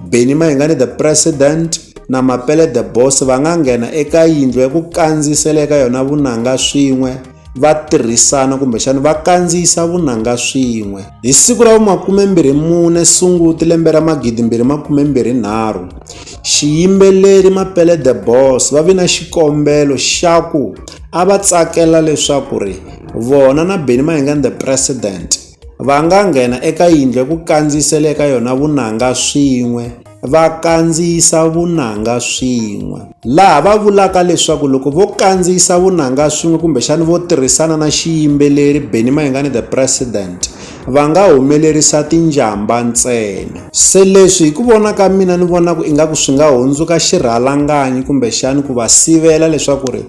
Benny Mahingani the President na Mapele the Boss va nga nghena eka yindlu ya ku kandziyisela eka yona vunanga swin'we va tirhisana kumbexana va kandziyisa vunanga swin'we hi siku ra vumakumembirhi mune sunguti lembe ra magidimbirhi makumembirhi nharhu xiyimbeleri mapele the boss va vi na xikombelo xa ku a va tsakela leswaku ri vona na beni mahingani the president Va nga nghena eka yindlu ya ku kandziyisela eka yona vunanga swin'we va kandziyisa vunanga swin'we laha va vulaka leswaku loko vo kandziyisa vunanga swin'we kumbexani vo tirhisana na xiyimbeleri Benny Mayengani the president va nga humelerisa tinjhamba ntsena se leswi hi ku vona ka mina ni vona ku ingaku swi nga hundzuka xirhalanganyi kumbexani ku va sivela leswaku ri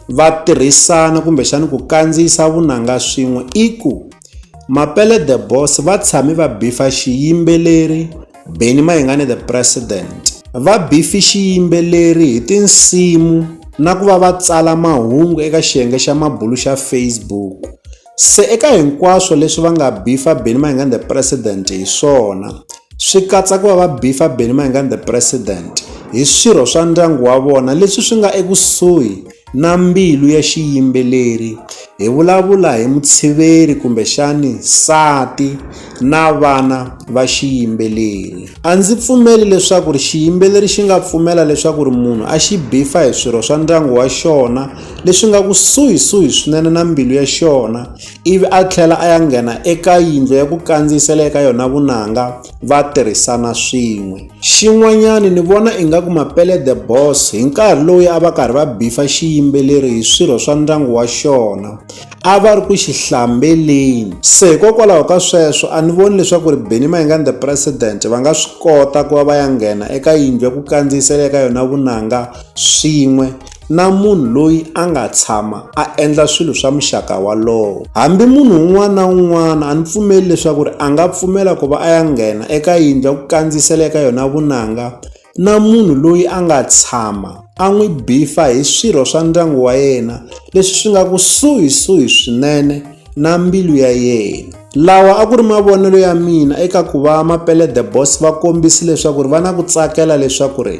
va tirhisana kumbexani ku kandziyisa vunanga swin'we i ku Mapele The Boss va tshame va bifa xiyimbeleri Benny Mayengani The President. Va bifi xiyimbeleri hi tinsimu na ku va va tsala mahungu eka xiyenge xa mabulu xa Facebook. Se eka hinkwaswo leswi va nga bifa Benny Mayengani The President hi swona, swi katsa ku va va bifa Benny Mayengani The President hi swirho swa ndyangu wa vona leswi swi nga ekusuhi na mbilu ya xiyimbeleri hi vulavula hi mutshiveri kumbexani nsati na vana va xiyimbeleri a ndzi pfumeli leswaku ri xiyimbeleri xi nga pfumela leswaku ri munhu a xi bifa hi swirho swa ndyangu wa xona leswi nga kusuhisuhi swinene na mbilu ya xona ivi a tlhela a ya nghena eka yindlu ya ku kandziyisela eka yona vunanga va tirhisana swin'we xin'wanyani ni vona ingaku mapele the boss hi nkarhi lowu a va karhi va bifa xiyimbeleri hi swirho swa ndyangu wa xona a va ri ku xi hlambeleni se hikokwalaho ka sweswo a ni voni leswaku ri beni mayingani the president va nga swi kota ku va va ya nghena eka yindlu ya ku kandziyisela eka yona vunanga swin'we na munhu loyi a nga tshama a endla swilo swa muxaka walowo hambi munhu un'wana na un'wana a ni pfumeli leswaku ri a nga pfumela ku va a ya nghena eka yindlu ya ku kandziyisela eka yona vunanga na munhu loyi a nga tshama a n'wi bifa hi swirho swa ndyangu wa yena leswi swi nga kusuhisuhi swinene na mbilu ya yena lawa a ku ri mavonelo ya mina eka ku va mapelede boss va kombisi leswaku ri va na ku tsakela leswaku ri